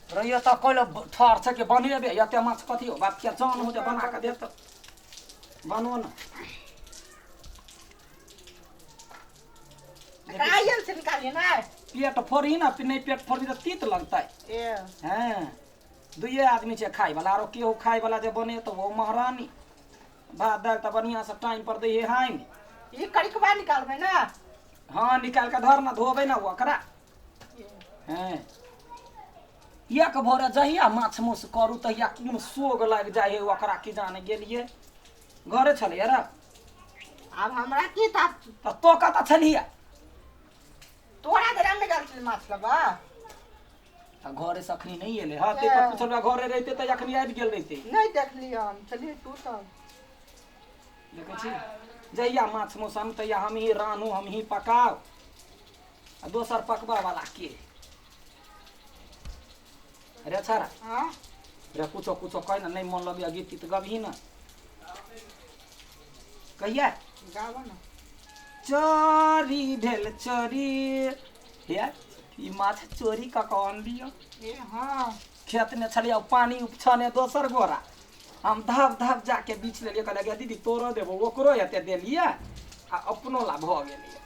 रहिए तऽ कोइले ठहर छै कि बनेबे एते माछ कथी हो बाप के जान हो जे बना के देत बनो न कायल से निकालिए ना पेट फोड़ी ना नहीं पेट फोड़ी तो तीत लगता ए हैं दुइये आदमी छै खाय वाला आरो केहू खाय वाला जे बने तो वो महारानी भात दालि तऽ बढ़िआँ से टाइम पर दै हाइन ई कड़िकबा निकालबै ने हाँ निकाल के धर ना धोबे ना ओकरा हैं एक भोरे जहिया माछ मौस करू तहिया कोन सोग लागि जाइ है ओकरा की जाने गेलिए घरे छलै रे आब हमरा की ता तऽ तो कतऽ छलियै तोरा घर में गल छल माछ लबा आ घरे से अखनी नहीं एले हाँ ते पर पूछल बा घरे रहते त अखनी आबि गेल रहते नहीं देखली हम चलिए तू सब देखै छी जहिया माछ मौसम तहिया हम ही रानू हम ही पकाओ आ दोसर पकबा वाला के अरे अच्छा रा हाँ रे कुछो कुछो कह ना नहीं मन लगे गीत तीत गबही ना कहिया गावो ना चोरी भेल चोरी हे ई माछ चोरी कऽ कऽ अनलियो ए हाँ खेतमे छलियै पानि उपछने दोसर गोरा हम धब धब जाके बीछ लेलियै कहलियै गे दीदी तोरो देबो ओकरो एते देलियै आ अपनो ला भऽ गेलियै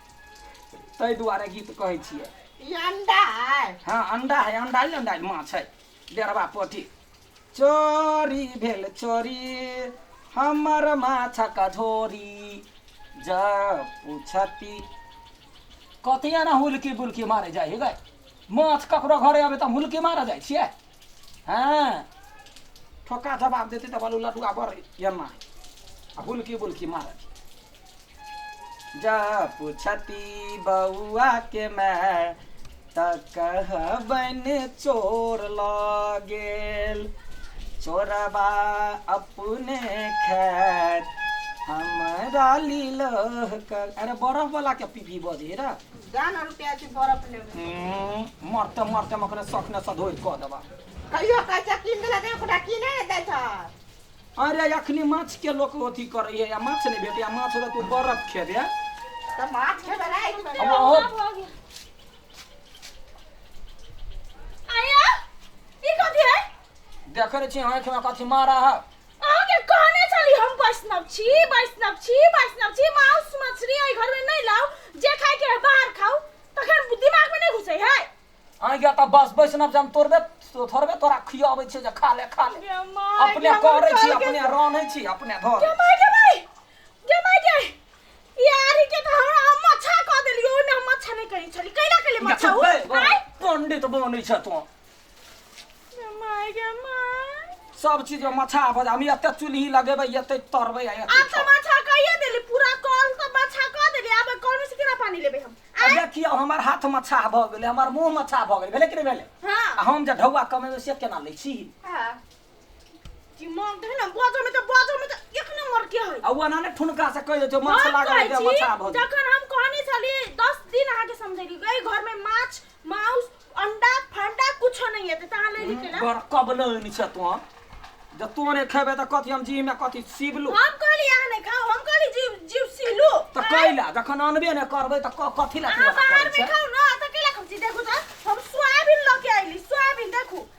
ताहि दुआरे गीत कहै छियै ई अंडा है हाँ अंडा है अंडा ही अंडा है, माछ है डेढ़वा पोठी चोरी भेल चोरी हमर माछक झोरी जब पूछती कथी एना हुलकी बुलकी मारे जाइ हिकै माछ ककरो घरे अबै तऽ हुलकी मारऽ जाइ छियै हँ ठोका जवाब देतै तऽ बोलू लडुआ बड़ एना आ हुलकी बुलकी मारत जा पुछती बउआ के मैं त कहबन चोर लऽ गेल चोरबा अपने खैर हमरा लीलह कर अरे बरफ वाला के पीपी बजे रे जान रुपया के बर्फ लेबे हम्म, मरते मरते हम अपने शौक ने सधोर कऽ देबा कहियो कैसे किन देला दे ओकरा किने ने दै छ अरे अखनी माछ के लोक अथी करैए या माछ नहि भेटैए या माछ रहत ओ बरफ खेबै तऽ माछ खेबै राति अब अहो आया ई कथी है देखै छी अहाँ खेमे कथी मारा है अहाँ के कहने छली हम वैष्णव छी वैष्णव छी वैष्णव छी मांस मछली एहि घर में नहीं लाओ जे खाए के है बाहर खाओ तखन दिमाग में नहीं घुसे है आँय गे तऽ बस बैष्णव जहन तोड़बे थोड़बे तोरा खियाबै छियै जे खा ले खा ले गे माय, अपने गे करै छी माय, अपने रान्है छी अपने धर गे माय गे माय गे माय गे ई आरी के तऽ हमरा अहाँ मच्छा कऽ देलियै ओहिमे हम मच्छा नहि कहै छली कैला कैले मच्छा ओ आँय? पंडित बनै छ तू गे माय गे माय सब चीज में मछा बजा हम एते चुल्ही लगेबै एते तरबै आ एते आब तऽ मच्छा कहिए देली पूरा कॉल तऽ मच्छा कऽ देली आब कॉल में से केना पानी लेबै हम आ देखियौ हमर हाथ मछाह भऽ गेलै हमर मुंह मछाह भऽ गेलै भेलै कि नहि भेलै हाँ आ हम जे ढौआ कमेबै से केना लै छी हाँ दिमाग देख ना बाजो में तो बाजो में तो एक नंबर के है आ ओना ने ठुनका से कहि देतौ माछ हम लागल कहै जे छी, मछाह भऽ गेलै जखन हम कहने छली दस दिन अहाँके समझेली एहि घरमे माछ माउस अंडा फंडा कुछो नहीं है ता ले ली केला बड़ कब न नि छ तो ज तो ने खेबे त कथि हम जी में कथि सीबलू हम कहली यहाँ नहीं खाओ हम कहली जीव जीव सीलू त कैला जखन अनबे ने करबे त क- कथि ला अहाँ तोरा बाहर करे में छै खाओ ना तो केला खाओ छी देखू तो हम सोयाबीन लेके आइली सोयाबीन देखू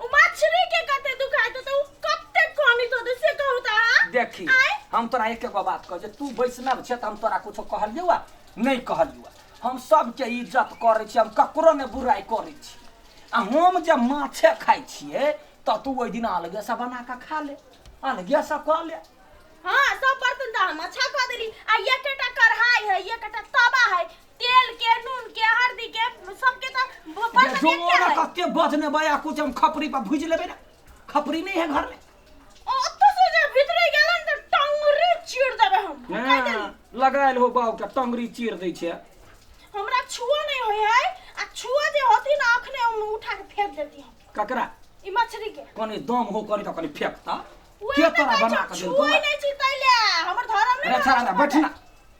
ओ मछली के कते दुखाई तो तो कते कमी तो दे से कहू त हां देखी आय? हम तोरा एक एगो बात कह जे तू वैष्णव छे त हम तोरा कुछो कहलियौ आ नहीं कहलियौ आ। हम सबके इज्जत करै छी हम ककरो ने बुराई करै छी आ हम जे माछे खाइ छिए त तू ओहि दिन अलगे से बना के खा ले अलगे से कऽ ले हां सब बर्तन त हम अच्छा क देली आ एकटा कढ़ाई है एकटा तवा है तेल के नून के हल्दी के सबके तो ब- बड़ जो बड़ क्या है कत्ते बदने बया कुछ हम खपरी पर भुज लेबे ना खपरी नहीं है घर में ओत्तो से जे भीतरे गेलन त टंगरी चीर देबे हम कह हाँ, देली लगायल हो बाव के टंगरी चीर दै छै हमरा छुओ नहीं होय है आ छुओ जे होती ना अखने हम उठा के फेंक देती हम ककरा ई मछली के कनी दम हो कनी त कनी फेंकता उहे के त तोरा कहै बना छै, के छुओ देलको नहीं छी तैले हमर धर्म नहीं रे छाड़ा बैठना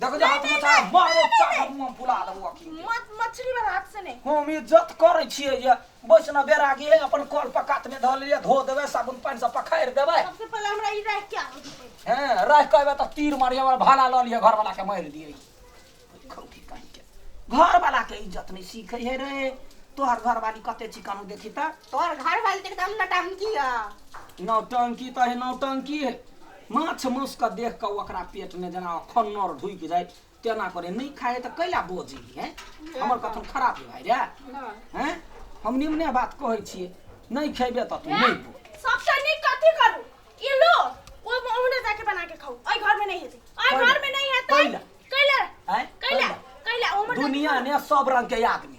देखो जे हाथ में था मारो चाट मुंह फुला देबो अखिन के। मत मछली वाला हाथ से नहीं हम इज्जत करै छियै जे बैसना बेरा गे अपन कल पकात में धऽ लिअ धो देबै साबुन पानि से पखारि देबै सबसे पहले हमरा ई रह क्या हो जतै हैं रह कहबै तऽ तीर मारिए हमरा भाला लऽ लिअ घरवाला के मारि दियै खौठी काहि के घरवाला के इज्जत नहि सीखै हे रे तोहर घरवाली कते चिकन देखी तऽ तोहर घर वाली के एकदम नटांकी है नौटंकी तऽ हे नौटंकी हे माछ मासुके देख कऽ ओकरा पेटमे जेना अखन नर ढुकि जाइ तेना करे नहि खाए तऽ कैला बजी है हमर कथन खराब भाय रे हैं हम निम्ने बात कहै छियै नहि खेबे तऽ तू नहि बो सबसँ नीक कथी करू ई लो ओ ओहने जाके बना के खाऊ एहि घर में नहीं हेतै एहि कैला? घर में नहीं हेतै कैला? कैला आँय? कैला कैला ओहने दुनिया ने सब रंग के आदमी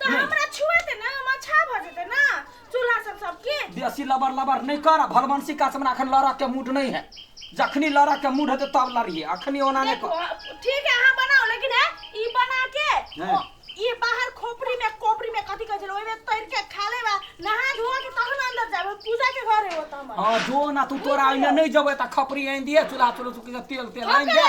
तऽ हमरा छुएते ने हम अच्छा भऽ जेतै ने चूल्हा सब सबके बेसी लबर लबर नहि कर भलवंशी का हमरा अखन लड़क के मूड नहीं है जखनी लड़क के मूड हेतै तब लड़िए अखनी ओना नहीं कर ठीक है अहाँ बनाओ लेकिन है ई बना के ई बाहर खोपड़ी में कोपड़ी में कथी कहै छै ओइ में तैर के खा लेबा नहा धोआ के तहन अंदर जाबे पूजा के घर है ओत हमर हां जो ना तू तोरा ओइने नहीं जबे त खपरी आइन दिए चूल्हा चूल्हा तेल तेल आइन दे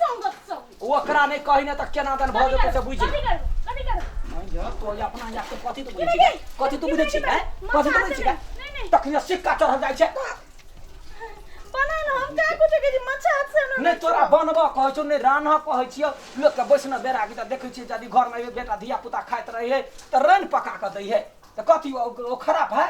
संगत संग ओकरा नहीं कही ना तो केना दन भऽ जेतै से बुझि कथी करू कथी करू नहीं जा तो या अपना या के कथी तो बुझै छी गे? कथी तो बुझै छी हैं? कथी तो बुझै छी गे? नहीं नहीं तखने सिक्का चढ़ल जाइ छै बना ना हम का कुछ के जी मच्छा हाथ से हमरा नहीं तोरा बनबऽ कहै छौ नहीं रान्ह कहै छियौ लोक के बैसना बेरा की तऽ देखै छियै यदि घर में बेटा धिया पुता खाइत रहै है तऽ रैन पका कऽ दै है तऽ कथी ओ ओ खराब है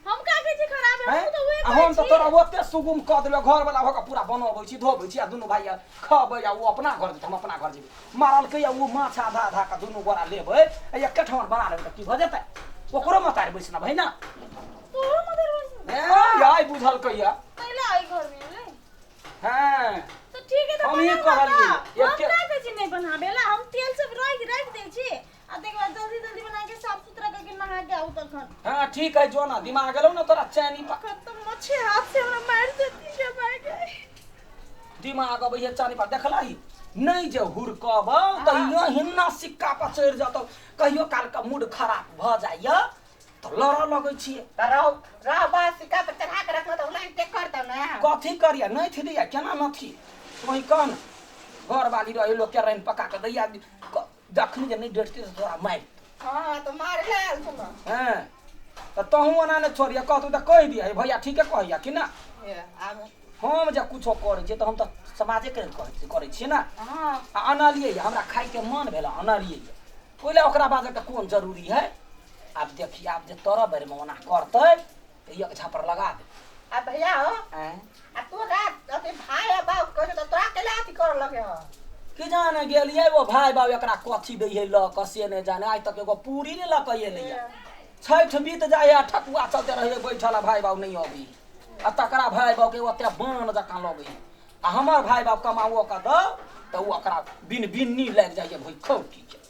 हम का कहै छी खराब है हमहूँ तऽ उहे आ कहै हम तऽ छी तोरा ओते सुगुम कऽ देलौ घर वाला भऽ कऽ पूरा बनबै छी धोबै छी आ दुनू भाइ आ खबै आ ओ अपना घर जेतै हम अपना घर जेबै मारलकै आ ओ माछ आधा आधा कऽ दुनू गोरा लेबै आ एके ठाम बना लेबै तऽ की भऽ जेतै ओकरो मतारि बैसना भै ने तोहरो मदर बस हे आइ बुझलकै यऽ तैला एहि घरमे एलै हँ तऽ ठीक है तऽ हमही बनाबऽ कहलियै ने। हम एके- का कहै छी नहि बनाबे ला हम तेल सब राखि राखि दै छी आ देख बा जल्दी जल्दी बना के साफ सुथरा करके नहा के आऊ तखन हाँ ठीक है जो ना दिमाग गेलो ना तोरा चैनी पा तखन तो मच्छी हाथ से हमरा मार देती के भाई गई दिमाग अब ये चानी पा देखला ही नहीं जे हुरकब तो यो हिन्ना सिक्का पर चढ़ जातो कहियो काल का मूड खराब भ जाइए तो लड़ लगे छिए रह रह बा सिक्का पर चढ़ा के रखना तो उलाई टेक कर दो ना कथी करिया नहीं थी दिया केना न थी वही कह न घर वाली रहे लोग के रैन पका के दैया क- जखन जे नहि डटतै तऽ तोरा मारि हँ तऽ मार ले आयल छलौ हँ तऽ तहूँ ओना नहि छोड़िया कहतौ तऽ कहि दिया हे भैया ठीके कहैया कि ना हे, आब हम जे कुछो करै छियै तऽ हम तऽ समाजेके लेल करै करै छियै ने हँ आ अनलियै या, हमरा खाइके मन भेल आ अनलियै या। ओहि लए ओकरा बाजैके कोन जरूरी है आब देखी आब जे तोरा बेरमे ओना करतै तऽ एक झापर लगा दे आ भैया हो आँय आ तोरा अथी भाय आ बाप कहै छौ तऽ तोरा कैला अथी कर लगे हो कि जाने गेलियै ओ भाय बाबू एकरा कथी दै है लऽ कऽ से नहि जाने आइ तक एगो पूरी नहि लऽ कऽ एलै है। छठि बीत जाइ है आ ठकुआ चलते रहै है बैठल आ भाय बाबू नहि अबै है। आ तकरा भाय बाबू के ओते बान जकाँ लगै है। आ हमर भाय बाबू कमाओ कऽ दौ तऽ ओ ओकरा बिन बिन्नी लागि जाइ है भुखौटी के